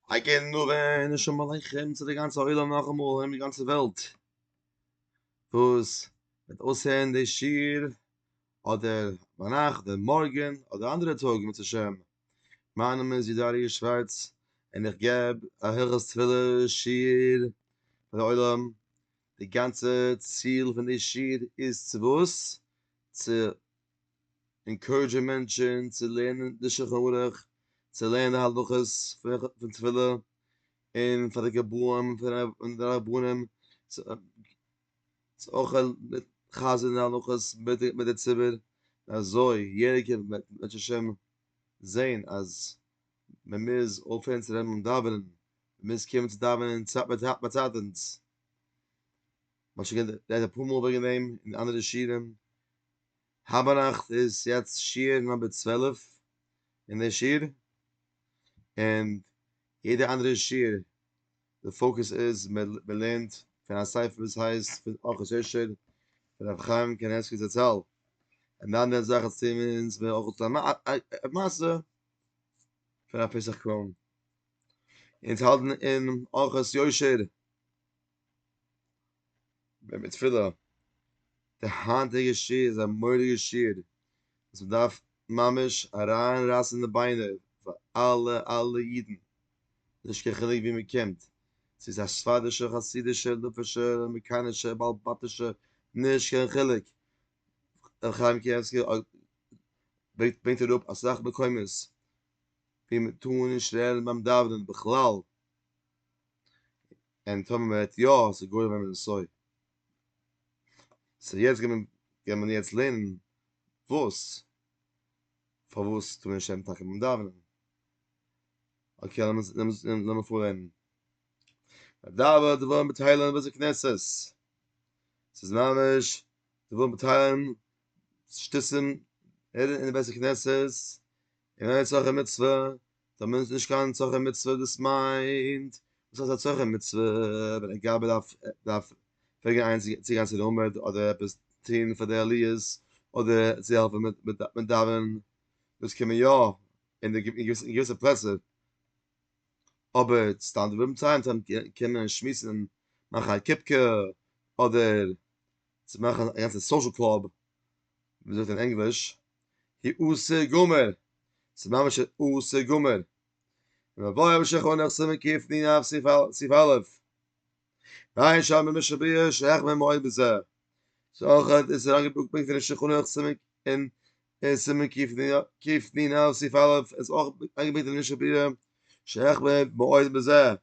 אגען נאר אין נשמה לכם צו די גאנצע עולם נאכאמאל אין די גאנצע וועלט וואס וועט אויסהערן די שיר אדער ביינאכט אדער מארגען אדער אנדערע טאג אם ירצה השם מיין נאמען איז יודא אריה שווארץ און איך געב א הילכות תפילה שיר פאר די עולם די גאנצע ציל פון די שיר איז צו וואס צו ענקאוראדזשען מענטשען צו לערנען די שלחן ערוך, צו לערנען די הלכות פון תפילה, און פאר די גבאים און די רבנים צו אויך חזר'ן די הלכות מיט די ציבור, אזוי יעדער וועט בעזהשי ת זען אז מען מוז אויפהערן צו רעדן און דאווענען, מען מוז קומען צו דאווענען צייט ביי צייט אונז. מ'האט שוין גערעדט אפאר מאל וועגן דעם אין אנדערע שיעורים, היבא נאכט איז יעצט שיעור נאמבער צוועלף אין די שיעור, און יעדע אנדערע שיעור די פאוקוס איז מ'לערנט פון א ספר וואס הייסט פון ארחות יושר פון רבי חיים קנייבסקי זצל, און די אנדערע זאך ערציען מיר אונז מער אויך צו א מעשה פון א פסח קראון, אונז האלטן אין ארחות יושר ביים מיט תפילה, די היינטיגע שיר איז א מורא'דיגע שיר, וואס מען דארף ממש אריין רייסן די ביינער פאר אלע אלע אידן, נישט קיין חילוק וואו מען קומט, צו ס'איז א ספרדישער, חסידישער, ליטווישער, אמעריקאנישער, בעל בתישער, נישט קיין חילוק, ר' חיים קניבסקי ברענגט אראפ אסאך מקומות ווי מען טאר נישט רעדן ביים דאווענען בכלל, און טאמער מען רעדט יא אז ס'איז גורם ווען מען סוי סוי יעצט גיימער גיימער מען יעצט לערנען וואס פארוואס טאר מען נישט רעדן טאקע ביים דאווענען אקעי לאמיר לאמיר לאמיר פארלערנען מדבר דברים בתהלים וואס איז קנסס ס'איז ממש דברים בתהלים שטיסן אין די בית הכנסת און א נצרכי מצוה, דער מענטש איז נישט קיין נצרכי מצוה, דאס מיינט, וואס הייסט א צרכי מצוה, ווען ער גייט באדארף דארף פרעגן איינעם צו צו גיין צו די עמוד אדער עפעס טוהן פאר די עליות, אדער צו העלפן מיט מיט מיט דאווענען, דאס קען מען יא, אין די אין געוויסע פלעצער, אבער סתם דברים צען צען קען מען שמועסן און מאכן א קופקע, אדער צו מאכן א גאנצע סאושעל קלאב, ווי מען זאגט אין ענגליש, היא עושה גמר, ס'איז ממש א עושה גמר. ומבואר בשכו נח סימן קיף ני נב סעיף א', ואין שם במשך בריאה שהחמיר מאוד בזה. ס'איז אויך אויף דאס אריינגעפאקט פונקט אין שכו נח סימן אין סימן קיף ני נב סעיף א', עס איז אויך איינגעפאקט אין משך בריאה שהחמיר מאוד בזה,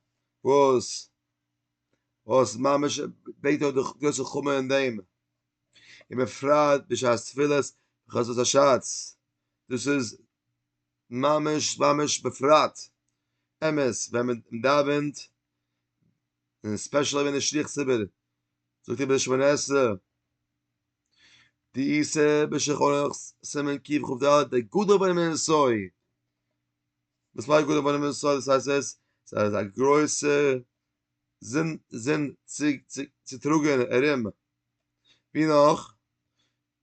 וואס וואס ממש ברענגט אויף די גרויסע חומר אין דעם. און בפרט בשעת תפילת חצות השץ, דאס איז ממש ממש בפרט, אמת ווען מען דאווענט און ספעשעל אויב איז נישט שליח ציבור זאגט איבער די שמונה עשרה, די עשה בשלחנך סימן קכ ד, די גדול בין הנסוי, וואס מיינט גדול בין הנסוי? דאס הייסט עס איז א גרויסע זון זון צו צו צו טראגען ארום. ווי נאך?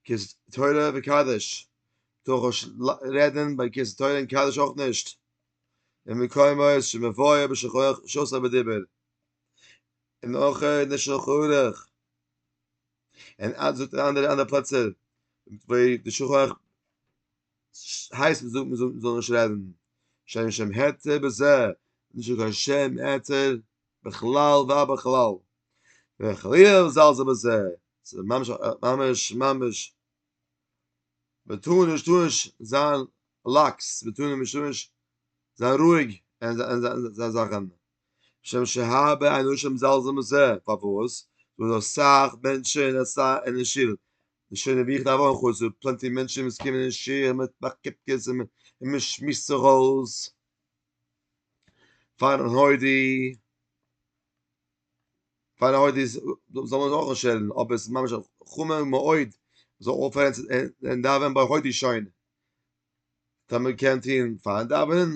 כוס תורה וקדש, טאר איך נישט רעדן ביי כוס תורה און קדש אויך נישט, אין מקומות שמבואר בשולחן ערוך שאסור בדיבור, און אויך אין די שולחן ערוך, און אז זאגט אין אנדערע אנדערע פלעצער ווי די שולחן ערוך הייסט מען זאגט מען זאל נישט רעדן, שאין שם העתר בזה, נישטא קיין שם העתר. בכלל ובכלל וחלילה זלזל בזה ס'איז ממש ממש ממש מ'טאר נישט טאר נישט זיין לאקס מ'טאר נישט טאר נישט זיין רואיג אין זיין זאכן משום שהרבה אנשים זלזלן בזה פארוואס ס'דא דא אסאך מענטשן אין שול די שונא ווי איך דארף אויך אויס ס'דא פלענטי מענטשן וואס קומען אין שול מ'מאכט קיפקעס און מ'שמועסט זיך אויס. פאר הודי פאר הודי זאל מען אויך שעלן אבער עס ממש חומר מאוד זאל אויפהערן אין דאווען ביי הודי שוין דער מען קען טין פאר דאווען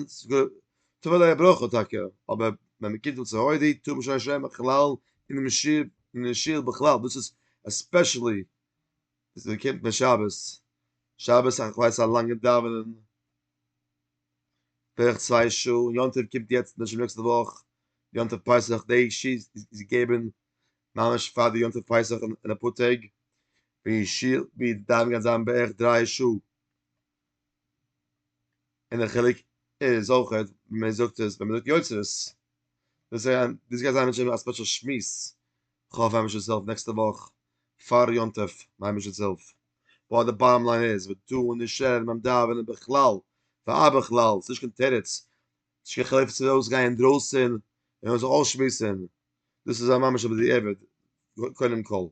טו וועל ער ברויך טאקע אבער ווען מען קומט צו הודי טו מען שוין שוין בכלל אין דעם שיר אין דעם שיר בכלל דאס איז עספעשעלי ווען מען קומט בשבת שבת א ווייס א לאנגע דאווענען בערך צוויי שעה, יום טוב קומט יעצט נישט נעקסטע וואך, יום טוב פסח דעי ש איז געגעבן ממש פאר די יום טוב פסח אין אפאר טעג, ווי ש ווי דארף גייט זיין בערך דריי שעה, און דער חילוק איז אויכעט ווי מען זאגט עס ווען מען זאגט יוצרות, דאס גייט זיין א ספעשל שמועס, כ'האף היימישעס הילף נעקסטע וואך פאר יום טוב, מיין היימישעס הילף. באט די באטעם ליין איז ודו און נשאר ביים דאווענען בכלל ובכלל ס'נישט קיין תירוץ נישט קיין חילוק צו מ'וויל אויסגיין אינדרויסן און מ'וויל זיך אויסשמועסן דאס איז א ממש בדיעבד קודם כל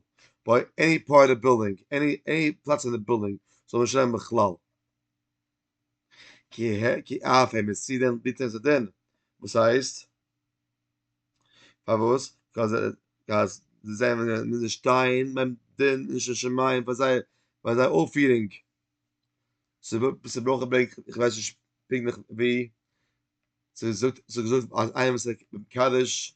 ביי עני פארט אוו בילדינג עני עני פלאץ אין די בילדינג זאל מען נישט רעדן בכלל. כי ה' כי אף ה' מיט צי דען ביטען זיי דען? וואס הייסט? פארוואס? קאז קאז זיי מוזן שטיין ביים דין לשם שמים פאר זייער פאר זייער אויפפירונג. ס'ברויך אוועק איך ווייס נישט פונקטליך ווי ס'זאגט ס'איז געזאגט אז איינער וואס איז מקדש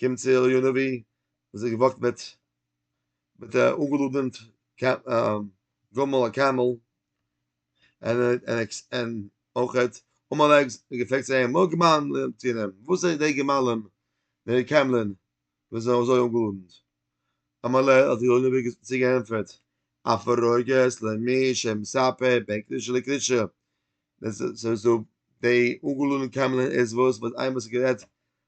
קומט צו אליהו הנביא און זיך געוואגט מיט מיט א אנגעלאדענט גמל א קעמל און און אויכעט עמלק האט געפרעגט צו אים מה גמלים תינם וואס איז די גמלים די קעמלען וואס זענען אזוי אנגעלאדענט אמר ליה האט אליהו הנביא צו געענטפערט א פרוגת למי שמספה בענקלישע לקרישע דאס איז דא די אנגעלאדענט קעמלען איז וואס וואס איינמאל ס'איז גערעדט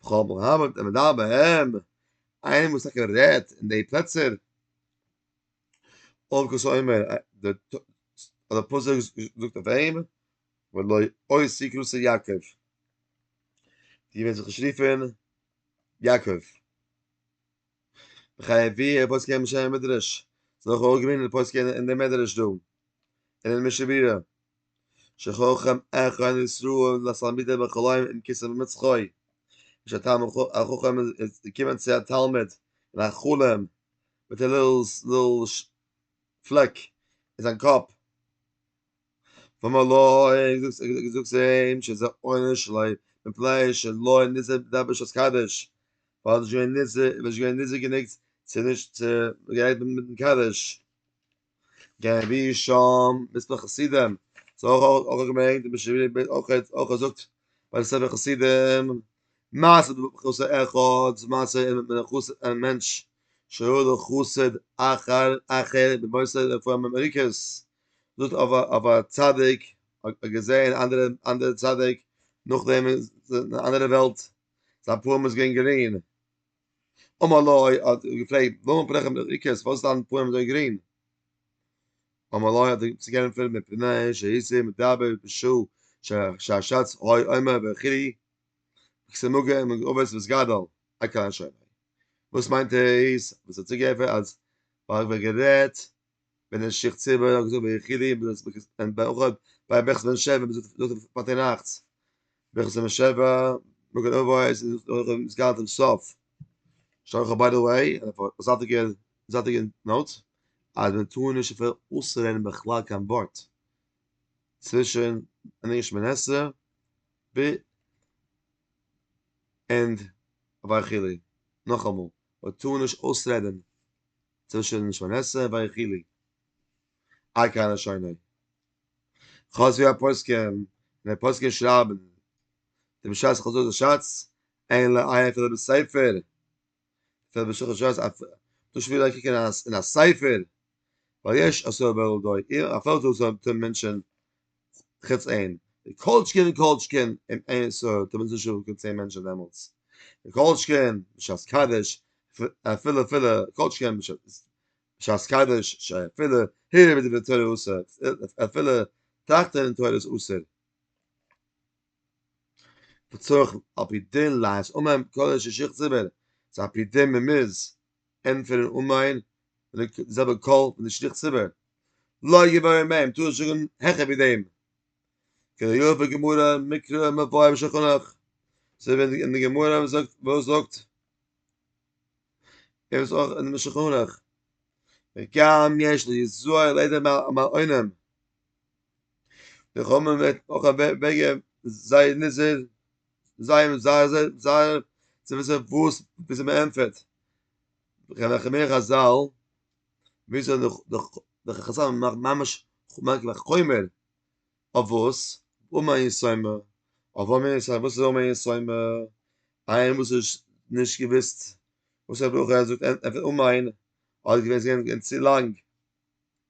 בכל בן המד המדבר בהם, איינער וואס טאקע רעדט אין די פלעצער, אויב כוס אומר, די אדער פסוק זאגט אויף אים, ולא אוי סיקרוס יעקב, די וועסט זיך נישט רופען יעקב. בחיי ווי ער פוסק אין משנה מדרש זאל איך אויך געווינען פוסק אין די מדרש דא אין אין משנה ברורה שחכם אחד אין ישראל לתלמידי בחלום אין כסא במצחוי איז א תלמיד החכם איז געקומען צו א תלמיד אין א חלום מיט א ליל פלעק אין זיין קאפ ואמר לו, זאגסט אים שזה עונש לוי מפני שלא ניסה בידי בשעת קדש, ווייל עס איז נישט געווען נזהר גענוג צו נישט צו גערעדט מיטן קדש. געווען ווי שם מספר חסידים, ס'האט אויך אויך געברענגט די משב ק אויך אויך זאגט ביי די ספר חסידים, מעשה במחוסר אחד, די מעשה אין מנחוסר א מענטש שהיה לו חסד אחר אחר במוסד רפואה מאמריקעס, דאס אויף א צדיק האט געזען אנדערע אנדערע צדיק נאכדעם איז אין א אנדערע וועלט זיין פנים איז געווען גרין אמר לו האט געפרעגט ווארום פרעכן די ריקעס וואס דיין פנים אזוי גרין אמר לו האט צו גענטפערט מפני שהיסי מדבר בשו שהשץ אוי אומר וכו' כסמוגה מגובס וסגדל הקהל שומע וואס מיינט עס וואס האט צוגעפער אז ווייל איך ווער גערעדט ווען אין שיך צובה האט געזאגט ביחידים דאס ביך אין באחד ביי ביך זען שבע ביז דאס פארט אין נאכטס ביך זען שבע מגן אבויס איז דאך איז גאנץ אין סוף שאל איך ביי די וועי און פאר זאטיגע זאטיגע נאוט אז מען טאר נישט אפילו אויסרעדן בכלל קיין ווארט צווישן אין ענגליש שמונה עשרה ב און ביי חילי נאכאמאל מען טאר נישט אויסרעדן צווישן שונאיסר ויחילי א קאנער שונא חז י הפוסקים און די פוסקים שרייבן די משאס חזו י שאץ אין ל ע אפילו בספר אפילו בשלחן שס א דאס שוין וויל קוקן אין א ספר ווייל יש אסור בעל דוי אפילו דאס זאגן מענטשן חוץ אין די קאלטשקין און קאלטשקין אין אין ישראל קען מען זיך נישט אויף קיין צען מענטשען דעמאלטס די קאלטשקין בשעת קדש אפילו אפילו קאלטשקין בשעת קדש שאפילו הער ווי די תורה אסר'ט אפילו טראכטען אין תורה איז אסור וצריך על פי דין לעשות אומן קודש שכת זיבער ס'איז על פי דין מ'מוז ענטפערן און מיין מיט די זעלבע קול פון די שליח ציבור לא יבאר מהם טוה זאגן העכער ווי דעם כידוע בגמרא מקרא מבואר בשולחן ערוך זיי ווען אין די גמרא וואס זאגט וואס זאגט ער איז אויך אין משולחן ערוך וגם יש לי זוהר ליידער מא אינעם די חמר מיט אויך א וועגע זיי נישט זיי זיי זיי זיי זיי צו וויסן וואס וויאזוי מען ענטפערט וכן איך מיר חזל וויאזוי דער דער דער חזל מאכט ממש מאכט א חומר אויף וואס אום א יסומה אויף אום א יסומה וואס איז אום א יסומה איינער וואס איז נישט געוויסט וואס א ברכו ער זאגט ענטפערט אום א האט געווען צו לאנג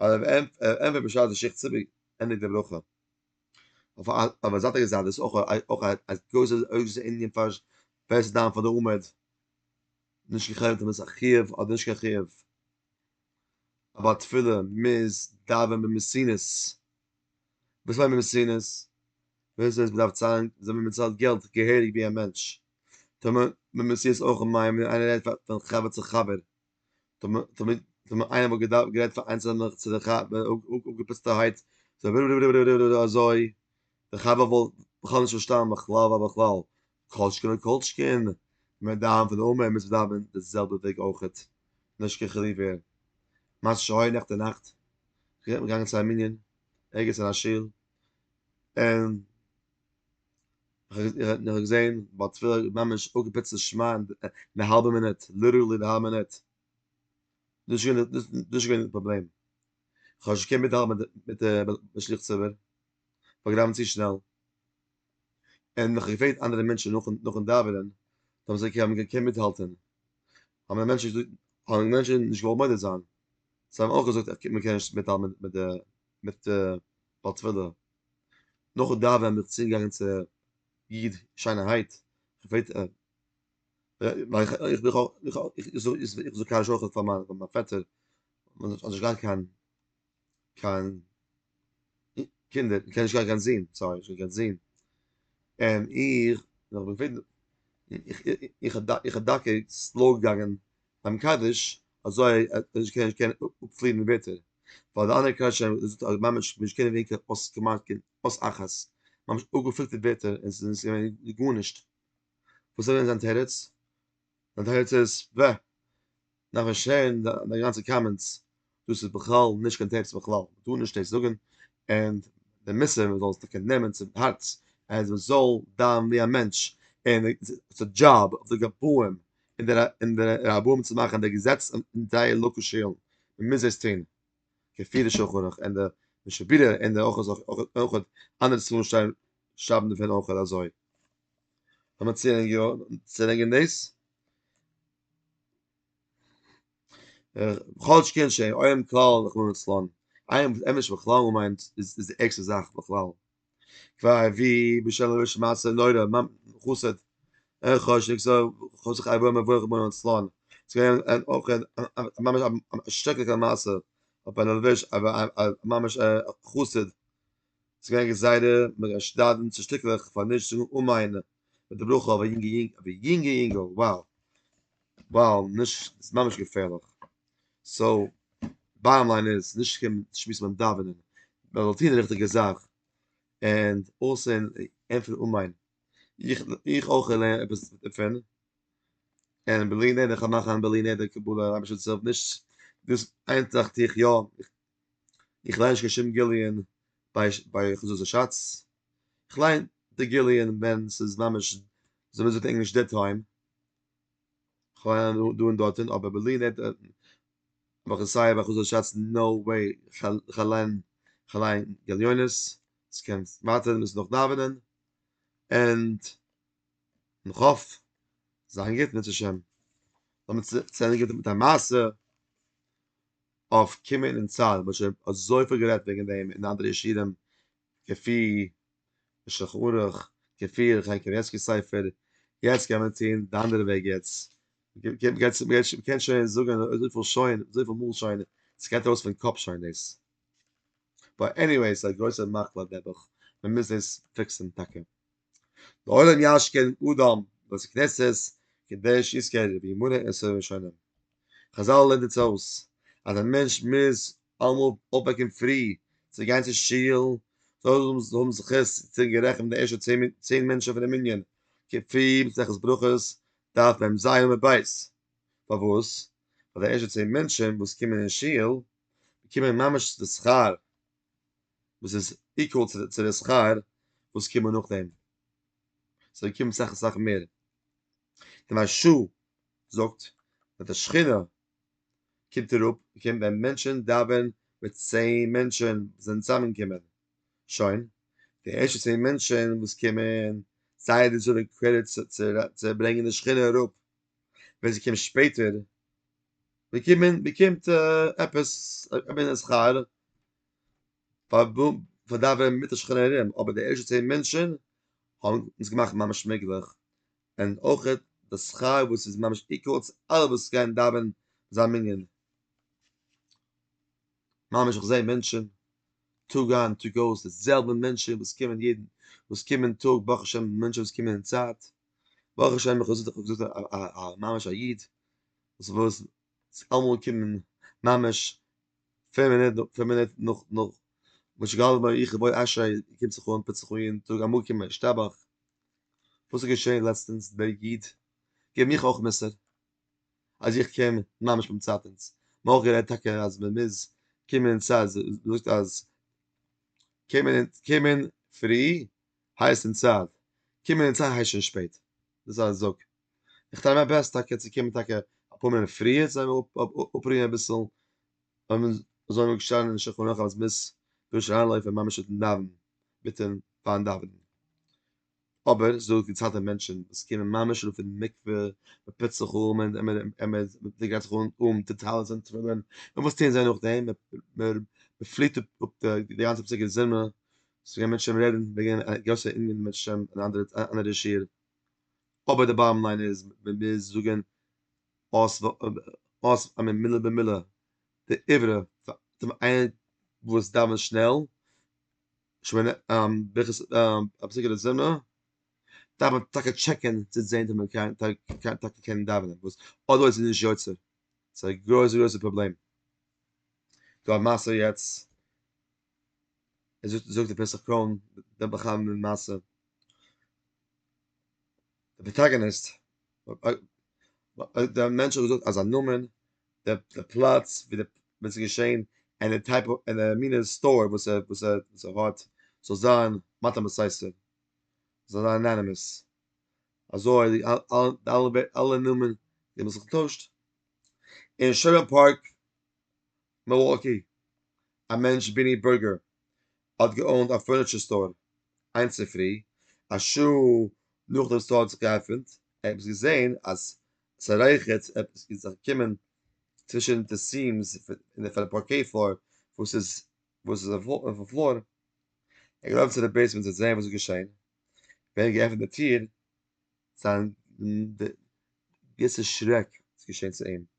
אויב ער ענטפערט בשעת די שיך ציבור ענדיגט די ברכה. אויף א זייטיגע זייט דאס אויך א גרויסע ענין פאר ווער ס'איז דיין פאר די עמוד, נישט קיין חילוק אויב איז א חיוב אדער נישט קיין חיוב, א בעל תפילה מוז דאווען במסינוס, וואס מיינט במסינוס? במסינוס מען דארף צאלן, אזוי ווי מען צאלט געלט געהעריג ווי א מענטש, טאר מען במסינוס אויך מיין ווען איינער רעדט פון חבר צו חבר. תמיד ווען מען איינער האט געדארפט גערעדט פאר איינס און נאך צו די חב אפגעפיצטערהייט זיי וויל וויל וויל וויל וויל אזוי די חב וואלט בכלל נישט פארשטאנען בכלל ווייל בכלל קאלטשקין איז קאלטשקין מען דארף פון אמער מוז מען דאווענען די זעלבע וועג אויכעט נישט קיין חילוק ווער מה שהיה נעכטן אין נאכט געגאנגען צו א מנין ערגעץ אין א שול און איך האב געזען ביי תפילה ממש אפגעפוצט די שמע ן די האלבע מינוט, ליטערלי די האלבע מינוט, דאס איז געווען דאס איז געווען די פראבלעם, איך האב נישט געקענט מיטהאלטן מיט די משליך ציבור, כ'האב געדאווענט צו שנעל, און איך האב געפרעגט אנדערע מענטשן נאכן נאכן דאווענען, זיי האבן געזאגט אז מען קען מיטהאלטן, האבן די מענטשן געזאגט, האבן די מענטשן נישט געוואלט מודה זיין, זיי האבן אויך געזאגט אז מען קען נישט מיטהאלטן מיט די מיט די בעל תפילה. נאך דאווען בין איך צוגעגאנגען צו איד שיינערהייט, איך זאג א שכח פאר מיין פעטער, מען זאל נישט גיין קיין קיין קינדער, מען קען נישט גיין קיין זין, סארי נישט קיין קיין זין, און איך איך איך איך איך האב דאקא סלאו געגאנגען ביים קדיש אזוי אז נישט קען נישט קען אפפליען די ווערטער, ווייל די אנדערע קדיש רבי זאגט אז ממש נישט קען ווערן קיין אות כמעט קיין אות אחת, ממש אפגעפילטערט ווערטער און ס'איז נישט געווען גארנישט, וואס איז געווען זיין תירוץ? זיין תירוץ איז, ב, נאכן הערן די גאנצע קאמענטס. דאס איז בכלל נישט קיין תירוץ בכלל, מען טאר נישט דאס זאגן, און די מוסר מען זאל עס טאקע נעמען צום הארץ, אז מען זאל דיין ווי א מענטש, און ס'איז די דזשאב אויף די גבאים און די און די רבנים צו מאכן די געזעץ אין זייער לאקאל שולן, מען מוז דאס טון, כפי די שולחן ערוך און די משנה ברורה און די אויך אויך אנדערע ספרים שרייבן שרייבן דערפון אויך אזוי. לאמיר צולייגן יא צולייגן דאס. כל שכן שאין עוים כלל רחמנא לצלן, עוים עמעש בכלל און מיינט איז די ערגסטע זאך בכלל, כפי ווי בשל ראש מעשה נורא מ מ חסד ער ח ש נישט זאל חס וחלילה בוא מברוך רחמנא לצלן, ס'געווען אויך ממש א שרעקליכע מעשה אויף א נארוועזש ממש א חסיד. ס'איז געווען גזירה מרשדדים צו שטיקלעך פאר נישט זאגן אמן מיט די ברכה אויף א יונגע יונגל, אויף א יונגע יונגל, wow wow נישט, ס'איז ממש געפערליך, סאו באטאם ליין איז, נישט קומען שמועסן ביים דאווענען, מען זאל טון די ריכטיגע זאך, ענד אלסא אין ענטפערן אמן, איך איך אויך לערן עפעס דערפון, און בלי נדר כ'וועל מאכן בלי נדר קבלה אויב השי ת וויל נישט, דאס איין זאך טו איך יא. איך ליין נישט קיין שום גיליון ביי חזות השץ, איך ליין די גיליון ווען ס'איז ממש ווי אזוי מ'זאגט אין ענגליש דעד טיים, כ'ליין דא און דארטען אבער בלי נדר האב איך עס סיי ביי חזות השץ נאו וועי כ'ליין כ'ליין גליונות, ס'קען ווייטער מ'מוז נאך דאווענען ענד איך האף זיין גוט בעזהשי ת, לאמיר צו ענדיגן מיט א מעשה. אויף קומען אין צהל מען האט שוין אזויפיל גערעדט וועגן דעם אין אנדערע ישיבים כפי שולחן ערוך כפי ר' חיים קנייבסקי ספר יעצט קען מען טון די אנדערע וועג יעצט מען קען שוין זאגן אזויפיל שוין אזויפיל מאל שוין סגייט ארויס פון קאפ שוין דאס באט עניוועי סאיז א גרויסע מחלה נעבעך מען מוז דאס פיקסן טאקע. די עולם יש כ אין אדם בית כנסת קדש יזכר וימונה עשרה ראשונים. חזל לערנט אונז אויס אז א מענטש מוז אלעמאל אויפוועקן פרי צו גיין צו שול, זאל ער האבן זכות צו זיין גערעכנט די ערשטע צען מענטשן פונעם מנין כפי מסכת ברכות דף מ ז עמוד ב'. פארוואס? ווייל די ערשטע צען מענטשן וואס קומען אין שול באקומען ממש די שכר וואס איז איקוועל צו צו די שכר וואס קומען נאכדעם, סאו ער קומט סאך סאך מער, און א ש זאגט אז די שכינה קומט אראפ קומט ווען מענטשען דאווען מיט צען מענטשען זענען צוזאמען קומען, שוין, די ערשטע צען מענטשען וואס קומען זייער איז אויף די קרעדיט צו צו ברענגען די שכינה אראפ, ווען ס'קומט שפעטער באקומען באקומט עפעס א מינע שכר פאר פאר דאווענען מיט די שכן ארום, אבער די ערשטע צען מענטשען האבן אונז געמאכט ממש מעגליך, און אויך די שכר וואס איז ממש איקוועל צו אלע וואס גייען דאווענען אין זיין מנין, ממש איך זע מענטשען טאג איין טאג אויס די זעלבע מענטשען וואס קומען יעדן וואס קומען טאג ברוך השם מענטשען וואס קומען אין צייט. ברוך השם איך האב זיך געזאגט א א ממש א איד וואס וואס ס'קען אמאל קומען ממש פֿינף מינוט פֿינף מינוט נאך נאך מה שגעל בו איך ובו אשרי קומט זיך אן טוט זיך אן יעדן טאג א מקוה השתבח, וואס איז געשען לעצטענס דער איד געבן מיך אויך מוסר אז איך קום ממש ביים צייטענס, מען האט אויך גערעדט טאקע אז מען מוז קומען סיי זאגט אז קומען קומען פרי הייס אין צייט קומען אין צייט הייס שוין שפעט דאס איז א זאג איך טריי מיי בעסט טאקע צו קומען טאקע אפאר מינוט פריער צו זיין אפרוען אביסל און מען זאל נישט שטיין אין שולחן ערוך אז מען מוז דארט שוין אריינלויפן ממש מיטן דאווענען מיטן פארן דאווענען אבער ס'איז דא געציילטע מענטשן וואס קומען ממש אן פון מקווה מען פוצט זיך אן מען גרייט זיך אן מיט די טלית און תפילין און וואס טוען זיי נאכדעם מען פליעט אפ די גאנצע פסוקי זמרה ס'געווען מענטשן ווען מ'רעדן וועגן א גרויסע ענין מיט שם און אנדערע אנדערע שיעור, אבער די באטעם ליין איז ווען מיר זאגן אויס אויס א מין מילה במילה די עברה פאר דעם איינער וואס דאווענט שנעל, שמונה ברכות הפסוקי דזמרה, דארף מען טאקע טשעקן צו זען צו מען קען טאקע קען דאווענען, וואס אדערווייז איז נישט יוצא, ס'איז א גרויסע גרויסע פראבלעם. דא א מעשה יעצט, ער זאגט זאגט די פסח קראון דעם בחיים מיט מעשה די פראטאגאניסט אויב דער מענטש האט געזאגט אז א נאמען דער דער פלאץ ווי דער ווען ס'איז געשען אין די טייפ אויף אין די מינע סטאר וואס ער וואס ער וואס ער האט זאל זיין מטעם הססר זאל זיין אנאנימעס אזוי די אלע די אלע אלע נאמען זיי האבן זיך געטוישט אין שומער פארק מילוואקי, א מענטש ביני בערגער האט געאונט א פורניטשער סטאר, איין צופרי, א שעה נאך דעם סטאר האט זיך געעפענט, ער האט עפעס געזען אז ס'רייכערט עפעס איז זיך געקומען צווישן די סיעמס פון די פארקעי פלאר וואס איז וואס איז אויפן פלאר, ער האט געלאפן צו די בעיסמענט צו זען וואס איז געשען, ווען ער האט געעפענט די טיר זיין געוויסע שרעק איז געשען צו אים.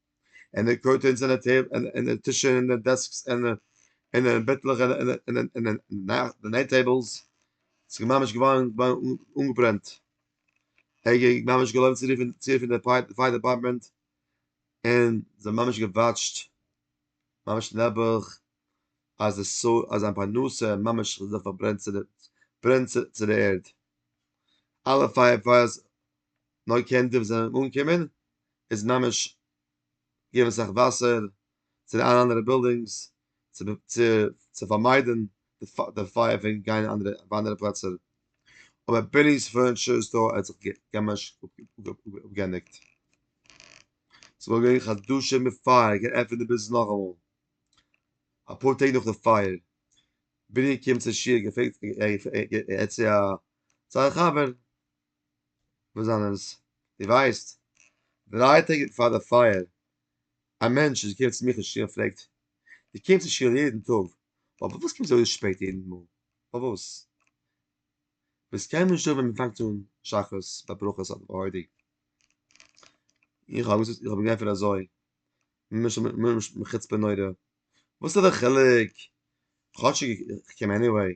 און די קורטענס און די טעב און און די טישן און די דעסקס און די און די בעטלעך און און און און און די נעט טעבלס ס'איז ממש געווארן געווארן אנגעברענט, ער האט געווען ממש געלויבן צו רופן צו רופן די פייער פייער דעפארטמענט, און זיי האבן ממש געוואטשט ממש נעבעך אז די סא אז זיין פרנסה ממש האט זיך פארברענט צו די ברענט צו צו די ערד, אלע פייער פייערס נאר קענדיל זענען אנגעקומען איז ממש געבן אסאך וואסער צו די אנדערע בילדינגס צו פארמיידן די פייער פון גיין אין אנדערע פלעצער, אבער בעני'ס פורניטשער סטאר האט זיך ממש אפגעענדיגט, ס'וואלט געווען חדשים מיט פייער געעפנט די ביזנעס נאכאמאל, אפאר טעג נאך די פייער, בעני קומט צו שיעור געפרעגט, ער האט צו זיין חבר וואס זענען עס? די ווייסט דריי טעג פאר די פייער א מענטש איז געקומען צו מיך אין שול און פרעגט די קומסט אין שול יעדן טאג פארוואס קומסטו אזוי שפעט יעדן מאל פארוואס ביסט קיינמאל נישט דא ווען מען פאנגט אן שחרית ביי ברכות אדער ביי הוידו איך האב געזאגט איך האב אים געענטפערט אזוי מחוצפה נורא וואס איז די חילוק כאטשיג איך קום עניוועי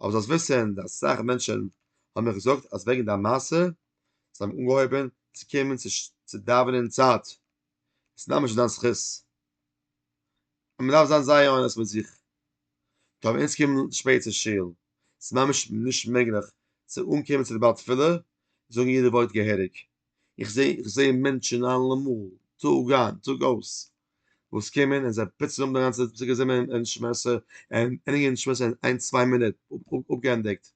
אבער זאלסט וויסן אז אסאך מענטשן האבן מיר געזאגט אז וועגן דיין מעשה זיי האבן אנגעהויבן צו קומען צו דאווענען אין צייט, עס איז ממש אין דיין זכות, און מען דארף זיין זייער אנעסט מיט זיך, טא ווען אונז קומען שפעט צו שול, עס איז ממש נישט מעגליך צו אנקומען צו די בעל תפילה און זאגן יעדע ווארט געהעריג. איך זע איך זע מענטשן אלעמאל, טאג איין טאג אויס, וואס קומען און זיי פוצן אפ די גאנצע צוקער זימער און שמעסער, און ענדיגן שמעסער אין איין צוויי מינוט, אפגעענדיגט.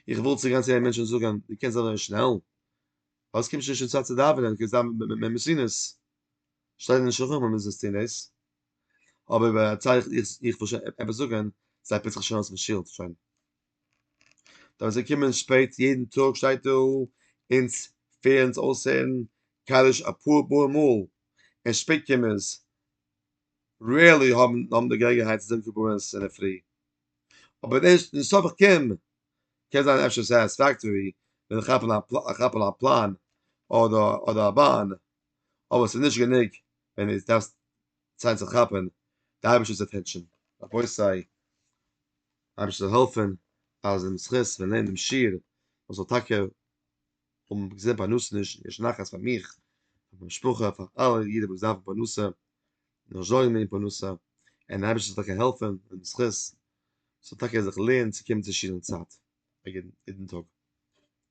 איך וויל צו גיין צו יענעם מענטש און זאגן, דו קענסט אזוי שנעל? פארוואס קומסטו נישט אין צייט צו דאווענען, קענסט דאווענען מער מסינוס, שטייט אין שלחן ערוך אז מ'זאל עס טון דאס, אבער ביי א צייט איך וויל שוין עפעס זאגן, זיי פוצן זיך שוין אויס פון שול, שוין. דארף זיי קומען שפעט יעדן טאג שטייט דא אונז פערן אונז אויסהערן קדיש אפאר פאר מאל און שפעט קומערס רעירלי האבן די געלעגנהייט צו זאגן קבלות אינדערפרי אבער דעס נישט סוף איך קום קען זיין אפשר סעטיספעקטארי ווען איך כאפ אן א פלאן אדער א באן אבער ס'איז נישט גענוג ווען דו דארפסט זיין צו כאפן די אייבישטער'ס אטענשאן רבותי. אייבערשטער זאל העלפן אז אין זכות פון לערנען דעם שיעור איך זאל טאקע האבן געזען פרנסה נישט יש נחת פאר מיך פאר מיין משפחה פאר אלע אידן וואס דארפן פרנסה נאר זארגן וועגן פרנסה און אייבערשטער זאל טאקע העלפן אין זכות זאל טאקע זיך לערנען צו קומען צו שיעור אין צייט יעדן טאג.